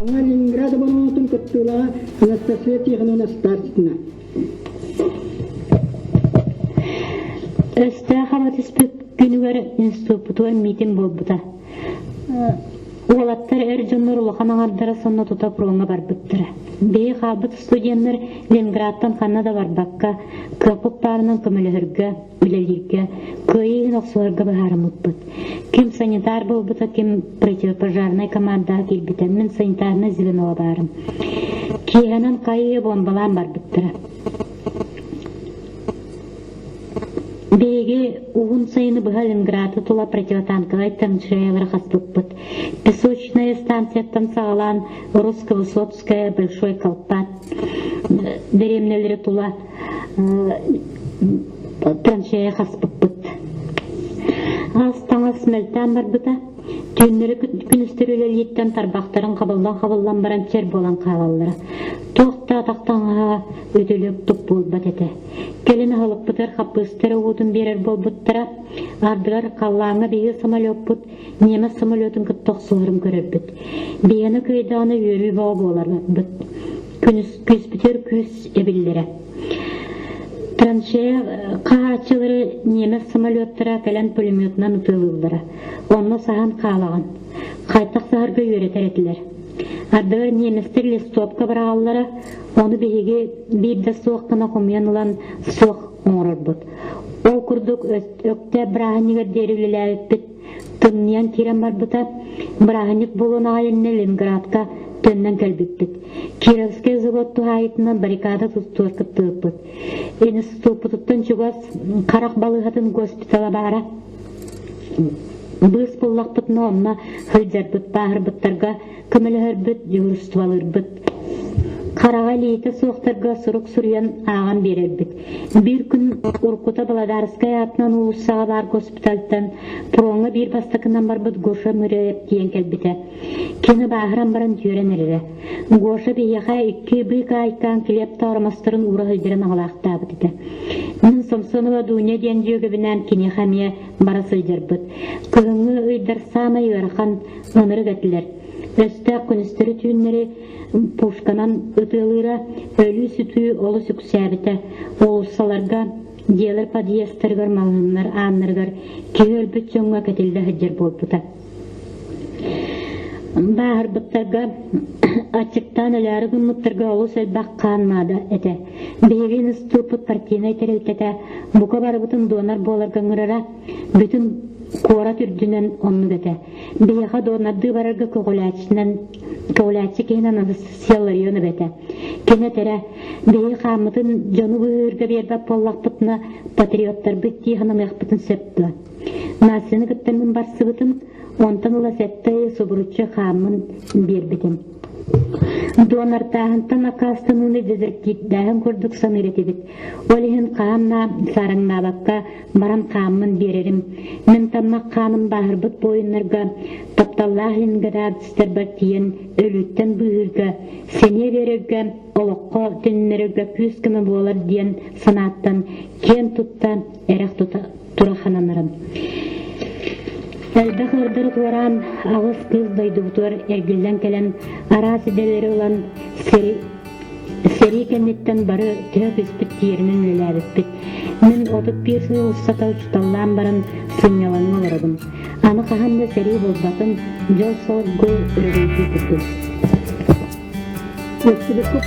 Ленинград оборонотун кыттыылаҕа Анастасия Тихоновна Стасина. Өстөөх абатыспыт күнүгэр институппутугар миитин буолбута. Уолаттар эр дьоннор улахан аҥардара сонно тута пруоҥҥа барбыттара. Бэйи хаалбыт студеннар Ленинградтан ханна да барбакка, кыаппыт паарынан көмөлөһөргө, үлэлииргэ кыайыы иһин охсуһарга быһаарыммыппыт. Ким санитар буолбута, ким противопожарнай командаҕа киирбитэ. Мин санитарнай звеноҕа баарым. Киэһэнэн хайыы бомбалаан барбыттара. Биһиги уһун сайыны быһа Ленинграды тула противотанковай танчаялары хаспыппыт. Песочная станцияттан саҕалаан Русского Сотская Большой Колпат деревнялары тула Пранчая хаспыппыт. Аас-таҥас мөлтөөн барбыта. Түүннэри күнүстэр үлэлииттэн тарбахтарын хабыллан-хабыллан баран чэр буолан хаалаллара. Туох да атахтаҥаһа үтүлүк-тук буолбат этэ. Кэлин аһылыкпытыгар хаппыыстара уутун биэрэр буолбуттара, ардыгар халлааҥҥа биһиги самолеппут немец самолетун кытта охсуһарын көрөрбүт. Биһиэнэ кыайдаҕына үөрүү бөҕө буоларбыт. күүспүтүгэр күүс эбиллэрэ траншея хаһааччылары немец самолеттара кэлэн пулеметунан ытыалыыллара онно саһан хаалаҕын хайтах саһарга үөрэтэр этилэр ардыгар немецтэр листопка быраҕаллара ону биһиги биир да суох гына хомуйан ылан суох оҥорорбут ол курдук өктөөп бырааһынньыгар диэри үлэлээбиппит Тымныйан киирэн барбыта, бырааһынньык буолуон аҕай иннэ Ленинградка төннөн кэлбиппит. Кировскай завод туһаайытынан баррикада тустугар кыттыбыппыт. Институппутуттан чугас харах балыыһатын госпитала баара. Быыс буллахпытына онно сылдьарбыт, пааһырбыттарга көмөлөһөрбүт, дьулуурустубалыырбыт. Хараҕа илиитэ суохтарга сурук суруйан ааҕан биэрэрбит. Биир күн уруккута Благодарскай аатынан уулуссаҕа баар госпитальтан пуроҥҥа биир бастакынан барбыт Гоша Мыряев диэн кэлбитэ. Кини бааһыран баран дьүөрэн эрэрэ. Гоша биһиэхэ икки быык аайкаан килиэп тооромосторун уура сылдьаран аҕалаахтаабыт этэ. Мин Самсонова Дуня диэн дьүөгэбинээн киниэхэ эмиэ бара сылдьарбыт. Кыһыҥҥы ыйдар саамай ыарахан ынырык этилэр. Өстөөх күнүстэри-түүннэри пушканан ытыалыыра, өлүү-сүтүү олус үксээбитэ. Уулуссаларга, дьиэлэр подъездтарыгар, малаһыннар ааннарыгар киһи өлбүт дьоҥҥо кэтиллэ сылдьар буолбута. Бааһырбыттарга аччыктаан өлөөрү гыммыттарга олус элбэх хаан наада этэ. Биһиги ыстыыппыт партийнай тэрилтэтэ бука барыбытын донор буоларга ыҥырара, бүтүн куорат үрдүнэн оннук этэ. Биһиэхэ донордыы барарга көҕүлээччинэн көҕүлээччи киһин Анастасия Ларионова этэ. Кини этэрэ, биһиги хааммытын дьону быһыырга биэрбэт буоллахпытына, патриоттарбыт дии сананыахпытын сөп дуо? Настяны кытта мин барсыбытым, онтон ыла сэттэ ый субуруччу хааммын биэрбитим. Донортааһынтан аккаастаныыны дезертиирдээһин курдук саныыр этибит. Ол иһин хаамнаа, сараҥнаабакка баран хааммын биэрэрим. Мин таммах хааным бааһырбыт буойуннарга тапталлаах инградцтарбар тиийэн өлүүттэн быыһыырга, сэниэ биэрэргэ, олоххо төннөрөргө күүс-көмө буолар диэн санааттан киэн тутта эрэх тута турахананарым. Элбэх ырдырык улараан аҕыс кыыс дойдубутугар эргиллэн кэлэн араас идэлэри ылан сэрии кэнниттэн бары төһө кыспыт тиэринэн үлэлээбиппит. Мин отут биир сыл устата учууталлаан баран сынньалаҥҥа олоробун. Аны хаһан да сэрии булбатын, дьол-солгу өрөгөйдүү турдум. Өстүбүккүт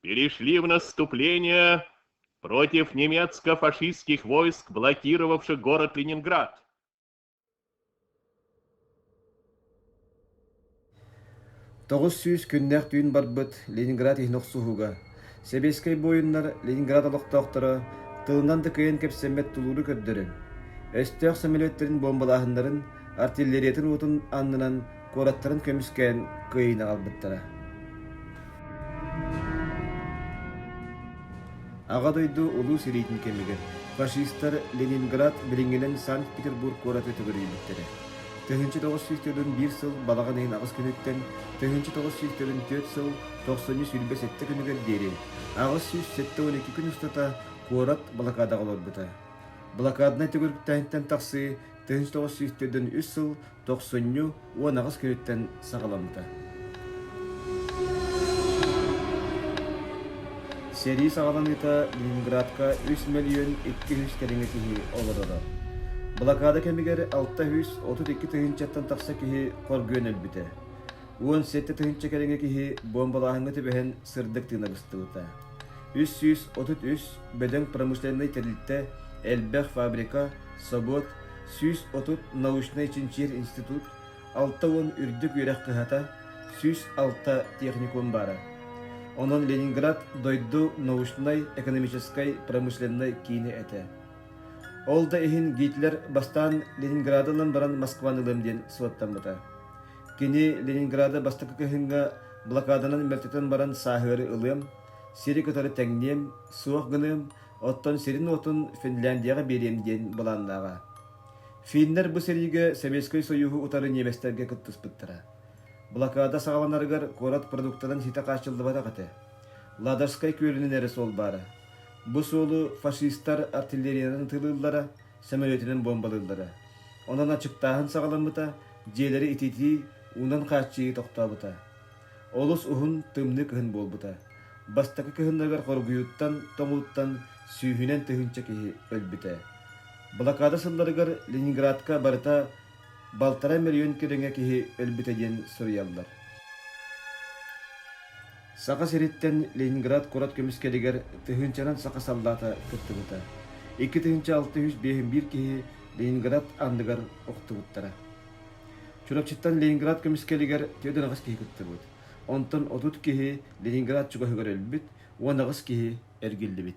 перешли в наступление против немецко-фашистских войск, блокировавших город Ленинград. Тоғыз сүүс күннэх түүн барбыт Ленинград иһин охсуһуга Сэбиэскэй буойуннар Ленинград олохтоохторо тылынан да кыйан кэпсэммэт тулууру көрдөрөн, өстөөх самолеттарын бомбалааһыннарын, артиллериятын уотун аннынан куораттарын көмүскээн Кыайыыны аҕалбыттара. Аҕа дойду Улуу сэриитин кэмигэр фашистар Ленинград билиҥҥинэн Санкт-Петербург куоратытыгар үүммүттэрэ. 1900 төгүл биир сыл балаҕан иһин аҕыс күнүттэн, 1900 төрүт сыл 93-7 күнүгэр диэри аҕыс сүүс сэттэ күн устата куорат блокадаҕа олорбута. Блокаднай төгүрүктээһинтэн тахсыы тыһыынча тоҕус сүүс төрдөн үс сыл тохсунньу уон аҕыс күнүттэн саҕаламмыта. Сэрии саҕаланыыта Ленинградка 3 миллион 200 кэриҥэ киһи олороро. Блокада кэмигэр 632 тыһыынчаттан тахса киһи хоргуйан өлбүтэ. Уон сэттэ тыһыынча кэриҥэ киһи бомбалааһыҥҥа түбэһэн сырдык тыына быстыбыта. үс сүүс отут үс бөдөҥ промышленнай тэрилтэ, элбэх фабрика, собуот, сүүс отут научнай-чинчийэр институт, алта уон үрдүк үөрэх кыһата, сүүс алта техникум баара. Онон Ленинград дойду научнай-экономическай промышленнай киини этэ. Ол да иһин Гитлер бастаан Ленинграданан баран Москваны ылыам диэн суоттаммыта. Кини Ленинграда бастакы кыһыҥҥа блокаданан мөлтөтөн баран сааһыары ылыам, сири кытары тэҥниэм, суох гыныам, оттон сирин-уотун Финляндияҕа биэриэм диэн былааннааҕа. Финнэр бу сэриигэ Советскай Союһу утары ньиэбэстэргэ кыттыспыттара. Блокада саҕаланарыгар куорат продуктанан ситэ хааччыллыбатах этэ. Ладожскай күөлүнэн эрэ суол баара. Бу суолу фашистар артиллериянан тыылыыллара, самолетинан бомбалыыллара. Онон ачыктааһын саҕаламмыта, дьиэлэри ититии, уунан хааччыйыы тохтообута. Олус уһун, тымныы кыһын буолбута. Бастакы кыһыннарыгар хоргуйууттан, тоҥууттан сүүһүнэн тыһыынча киһи өлбүтэ. Блокада сылларыгар Ленинградка барыта балтараа миллион кэриҥэ киһи өлбүтэ диэн суруйаллар. Саха сириттэн Ленинград куорат көмүскэлигэр тыһыынчанан саха саллаата кыттыбыта. Икки тыһыынча алта үс биэһин биир киһи Ленинград андыгар охтубуттара. Чурапчыттан Ленинград көмүскэлигэр түөрт аҕыс киһи кыттыбыт. Онтон отут киһи Ленинград чугаһыгар өлбүт, уон аҕыс киһи эргиллибит.